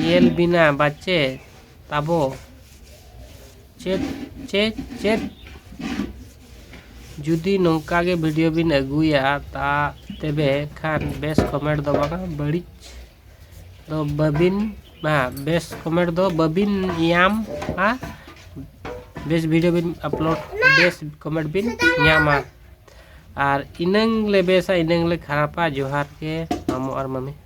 ᱧᱮᱞ ᱵᱤᱱᱟ ᱵᱟᱪᱮ ᱛᱟᱵᱚ ᱪᱮᱫ ᱪᱮᱫ ᱪᱮᱫ ᱡᱩᱫᱤ ᱱᱚᱝᱠᱟ ᱜᱮ ᱵᱷᱤᱰᱤᱭᱳ ᱵᱤᱱ ᱟᱹᱜᱩᱭᱟ ᱛᱟ ᱛᱚᱵᱮ ᱠᱷᱟᱱ ᱵᱮᱥ ᱠᱚᱢᱮᱱᱴ ᱫᱚ ᱵᱟᱝᱟ ᱵᱟᱹᱲᱤᱡ ᱫᱚ ᱵᱟᱹᱵᱤᱱ ᱵᱟ ᱵᱮᱥ ᱠᱚᱢᱮᱱᱴ ᱫᱚ ᱵᱟᱹᱵᱤᱱ ᱧᱟᱢᱟ ᱵᱮᱥ ᱵᱷᱤᱰᱤᱭᱳ ᱵᱤᱱ ᱟᱯᱞᱳᱰ ᱵᱮᱥ ᱠᱚᱢᱮᱱᱴ ᱵᱤᱱ ᱧᱟᱢᱟ ᱟᱨ ᱤᱱᱟᱹᱝ ᱞᱮ ᱵᱮᱥᱟ ᱤᱱᱟᱹᱝ ᱞᱮ ᱠᱷᱟᱨᱟᱯᱟ ᱡᱚᱦᱟᱨ ᱜᱮ ᱢᱟᱢᱚ ᱟᱨ ᱢᱟᱹᱢᱤ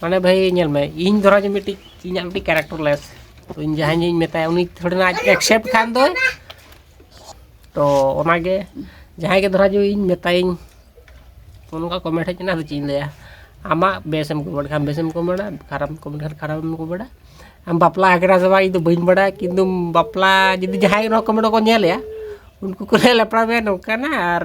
ᱢᱟᱱᱮ ᱵᱷᱟᱹᱭ ᱧᱮᱞ ᱢᱮ ᱤᱧ ᱫᱷᱚᱨᱟ ᱡᱮ ᱢᱤᱫᱴᱤᱡ ᱤᱧᱟᱹᱜ ᱢᱤᱫᱴᱤᱡ ᱠᱮᱨᱮᱠᱴᱚᱨ ᱞᱮᱥ ᱛᱚ ᱤᱧ ᱡᱟᱦᱟᱸᱭ ᱤᱧ ᱢᱮᱛᱟᱭᱟ ᱩᱱᱤ ᱛᱷᱚᱲᱮ ᱱᱟ ᱮᱠᱥᱮᱯᱴ ᱠᱷᱟᱱ ᱫᱚ ᱛᱚ ᱚᱱᱟᱜᱮ ᱡᱟᱦᱟᱸᱭ ᱜᱮ ᱫᱷᱚᱨᱟ ᱡᱮ ᱤᱧ ᱢᱮᱛᱟᱭᱤᱧ ᱛᱚ ᱱᱚᱝᱠᱟ ᱠᱚᱢᱮᱱᱴ ᱦᱮᱡ ᱮᱱᱟ ᱟᱫᱚ ᱪᱮᱫ ᱤᱧ ᱞᱟᱹᱭᱟ ᱟᱢᱟᱜ ᱵᱮᱥᱮᱢ ᱠᱚᱢᱮᱱᱴ ᱠᱷᱟᱱ ᱵᱮᱥᱮᱢ ᱠᱚᱢᱮᱱᱴᱟ ᱠᱷᱟᱨᱟᱯ ᱠᱚᱢᱮᱱᱴ ᱠᱷᱟᱱ ᱠᱷᱟᱨᱟᱯᱮᱢ ᱠᱚᱢᱮᱱᱴᱟ ᱟᱢ ᱵᱟᱯᱞᱟ ᱟᱠᱟᱱᱟ ᱥᱮ ᱵᱟᱝ ᱤᱧ ᱫᱚ ᱵᱟᱹᱧ ᱵᱟᱲᱟᱭᱟ ᱠᱤᱱᱛᱩ ᱵᱟᱯᱞᱟ ᱡᱩᱫᱤ ᱡᱟᱦᱟᱸᱭ ᱱᱚᱣᱟ ᱠᱚᱢᱮᱱᱴ ᱠᱚ ᱧᱮᱞᱮᱜᱼᱟ ᱩᱱᱠᱩ ᱠᱚ ᱞᱟᱹᱭᱟ ᱞᱮᱯᱲᱟ ᱵᱟᱭ ᱱᱚᱝᱠᱟᱱᱟ ᱟᱨ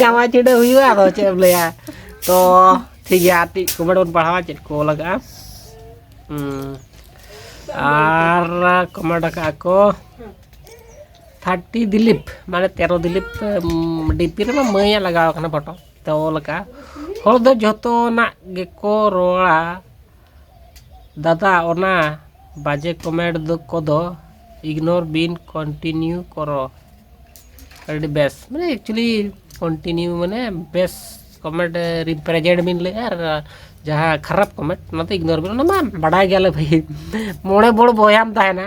ᱡᱟᱶᱟᱭ ᱪᱤᱰᱟᱹ ᱦᱩᱭᱩᱜᱼᱟ ᱟᱫᱚ ᱪᱮᱫ ᱮᱢ ᱞᱟᱹᱭᱟ ᱛᱚ ᱴᱷᱤᱠ ᱜᱮᱭᱟ ᱟᱨ ᱴᱤᱡ ᱠᱚᱢᱮᱱᱴ ᱵᱚᱱ ᱯᱟᱲᱦᱟᱣᱟ ᱪᱮᱫ ᱠᱚ ᱞᱟᱜᱟᱜᱼᱟ ᱟᱨ ᱠᱚᱢᱮᱱᱴ ᱟᱠᱟᱫ ᱠᱚ ᱛᱷᱟᱨᱴᱤ ᱫᱤᱞᱤᱯ ᱢᱟᱱᱮ ᱛᱮᱨᱚ ᱫᱤᱞᱤᱯ ᱰᱤᱯᱤ ᱨᱮᱢᱟ ᱢᱟᱹᱭᱟᱜ ᱞᱟᱜᱟᱣ ᱠᱟᱱᱟ ᱯᱷᱳᱴᱳ ᱛᱚ ᱚᱞ ᱟᱠᱟᱫᱼᱟ ᱦᱚᱲ ᱫᱚ ᱡᱚᱛᱚᱱᱟᱜ ᱜᱮᱠᱚ ᱨᱚᱲᱟ ᱫᱟᱫᱟ ᱚᱱᱟ ᱵᱟᱡᱮ ᱠᱚᱢᱮᱴ ᱫᱚ ᱠᱚᱫᱚ ᱤᱜᱽᱱᱳᱨ ᱵᱤᱱ ᱠᱚᱱᱴᱤᱱᱤᱭᱩ ᱠᱚᱨᱚ ᱟᱹᱰᱤ ᱵᱮᱥ ᱢᱟᱱᱮ ᱮᱠᱪᱩᱭᱮᱞᱤ ᱠᱚᱱᱴᱤᱱᱤᱭᱩ ᱢᱟᱱᱮ ᱵᱮᱥ ᱠᱚᱢᱮᱴ ᱨᱤᱯᱨᱮᱡᱮᱱᱴ ᱵᱤᱱ ᱞᱟᱹᱭᱮᱜᱼᱟ ᱟᱨ ᱡᱟᱦᱟᱸ ᱠᱷᱟᱨᱟᱯ ᱠᱚᱢᱮᱴ ᱚᱱᱟ ᱫᱚ ᱤᱜᱽᱱᱳᱨ ᱵᱤᱱ ᱚᱱᱟ ᱢᱟ ᱵᱟᱰᱟᱭ ᱜᱮᱭᱟᱞᱮ ᱵᱷᱟᱹᱭ ᱢᱚᱬᱮ ᱵᱚᱲ ᱵᱚᱭᱦᱟᱢ ᱛᱟᱦᱮᱱᱟ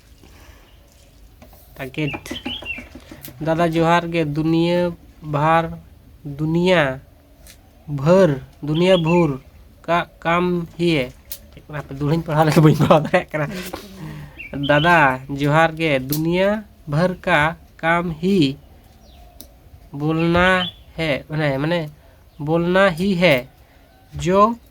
ᱯᱮᱠᱮᱴ ᱫᱟᱫᱟ ᱡᱚᱦᱟᱨ ᱜᱮ ᱫᱩᱱᱤᱭᱟᱹ ᱵᱷᱟᱨ ᱫᱩᱱᱤᱭᱟᱹ ᱵᱷᱟᱹᱨ ᱫᱩᱱᱤᱭᱟᱹ ᱵᱷᱩᱨ ᱠᱟ ᱠᱟᱢ ᱦᱤᱭᱮ ᱪᱮᱫ ᱠᱟᱱᱟ ᱦᱟᱯᱮ ᱫᱩᱦᱲᱟᱹᱧ ᱯᱟᱲᱦᱟᱣ ᱞᱮᱠᱷᱟᱱ ᱵᱟᱹᱧ ᱯᱟᱲᱦᱟᱣ ᱫᱟᱲᱮᱭᱟᱜ ᱠᱟᱱᱟ ᱫᱟᱫᱟ ᱡᱚᱦᱟᱨ ᱜᱮ ᱫᱩᱱᱤᱭᱟᱹ ᱵᱷᱟᱹᱨ ᱠᱟ ᱠᱟᱢ ᱦᱤ ᱵᱳᱞᱱᱟ ᱦᱮ ᱢᱟᱱᱮ ᱢᱟᱱᱮ ᱵᱳᱞᱱᱟ ᱦᱤ ᱦᱮ ᱡᱳ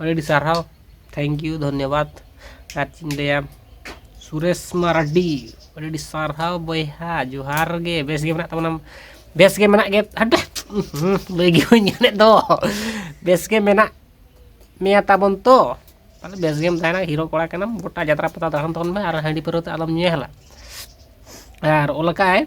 ᱟᱹᱰᱤ ᱥᱟᱨᱦᱟᱣ ᱛᱷᱮᱝᱠ ᱤᱭᱩ ᱫᱷᱚᱱᱱᱚᱵᱟᱫᱽ ᱟᱨ ᱪᱮᱫ ᱤᱧ ᱞᱟᱹᱭᱟ ᱥᱩᱨᱮᱥ ᱢᱟᱨᱰᱤ ᱟᱹᱰᱤ ᱟᱹᱰᱤ ᱥᱟᱨᱦᱟᱣ ᱵᱚᱭᱦᱟ ᱡᱚᱦᱟᱨ ᱜᱮ ᱵᱮᱥ ᱜᱮ ᱢᱮᱱᱟᱜ ᱛᱟᱵᱚᱱᱟᱢ ᱵᱮᱥ ᱜᱮ ᱢᱮᱱᱟᱜ ᱜᱮ ᱦᱟᱴ ᱞᱟᱹᱭ ᱜᱮ ᱵᱟᱹᱧ ᱧᱟᱢᱮᱫ ᱫᱚ ᱵᱮᱥ ᱜᱮ ᱢᱮᱱᱟᱜ ᱢᱮᱭᱟ ᱛᱟᱵᱚᱱ ᱛᱚ ᱛᱟᱦᱚᱞᱮ ᱵᱮᱥ ᱜᱮᱢ ᱛᱟᱦᱮᱱᱟ ᱦᱤᱨᱳ ᱠᱚᱲᱟ ᱠᱟᱱᱟᱢ ᱜᱚᱴᱟ ᱡᱟᱛᱨᱟ ᱯᱟᱛᱟ ᱫᱟᱬᱟᱱ ᱛᱟᱵᱚᱱ ᱢᱮ ᱟᱨ ᱦᱟᱺᱰᱤ ᱯᱟᱹᱣᱨᱟᱹ ᱛᱮ ᱟᱞᱚᱢ ᱧᱩᱭᱟ ᱦᱮᱞᱟ ᱟᱨ ᱚᱞ ᱠᱟᱜᱼᱟᱭ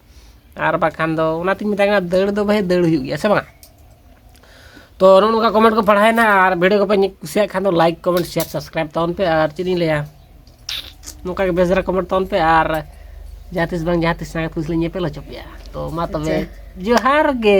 ᱟᱨ ᱵᱟᱠᱷᱟᱱ ᱫᱚ ᱚᱱᱟᱛᱤᱧ ᱢᱮᱛᱟᱭ ᱠᱟᱱᱟ ᱫᱟᱹᱲ ᱫᱚ ᱵᱷᱟᱹᱭ ᱫᱟᱹᱲ ᱦᱩᱭᱩᱜ ᱜᱮᱭᱟ ᱥᱮ ᱵᱟᱝ ᱛᱚ ᱱᱚᱜᱼᱚ ᱱᱚᱝᱠᱟ ᱠᱚᱢᱮᱱᱴ ᱠᱚ ᱯᱟᱲᱦᱟᱣᱮᱱᱟ ᱟᱨ ᱵᱷᱤᱰᱤᱭᱳ ᱠᱚᱯᱮ ᱠᱩᱥᱤᱭᱟᱜ ᱠᱷᱟᱱ ᱫᱚ ᱞᱟᱭᱤᱠ ᱠᱚᱢᱮᱱᱴ ᱥᱮᱭᱟᱨ ᱥᱟᱵᱥᱠᱨᱟᱭᱤᱵ ᱛᱟᱵᱚᱱ ᱯᱮ ᱟᱨ ᱪᱮᱫ ᱤᱧ ᱞᱟᱹᱭᱟ ᱱᱚᱝᱠᱟ ᱜᱮ ᱵᱮᱥ ᱫᱷᱟᱨᱟ ᱠᱚᱢᱮᱱᱴ ᱛᱟᱵᱚᱱ ᱯᱮ ᱟᱨ ᱡᱟᱦᱟᱸ ᱛᱤᱥ ᱵᱟᱝ ᱡᱟᱦᱟᱸ ᱛᱤᱥ ᱥᱟᱸᱜᱟᱛ ᱠᱩᱥᱤ ᱞᱤᱧ ᱧᱮᱯᱮᱞ ᱦᱚᱪᱚ ᱯᱮᱭᱟ ᱛᱚ ᱢᱟ ᱛᱚᱵᱮ ᱡᱚᱦᱟᱨ ᱜᱮ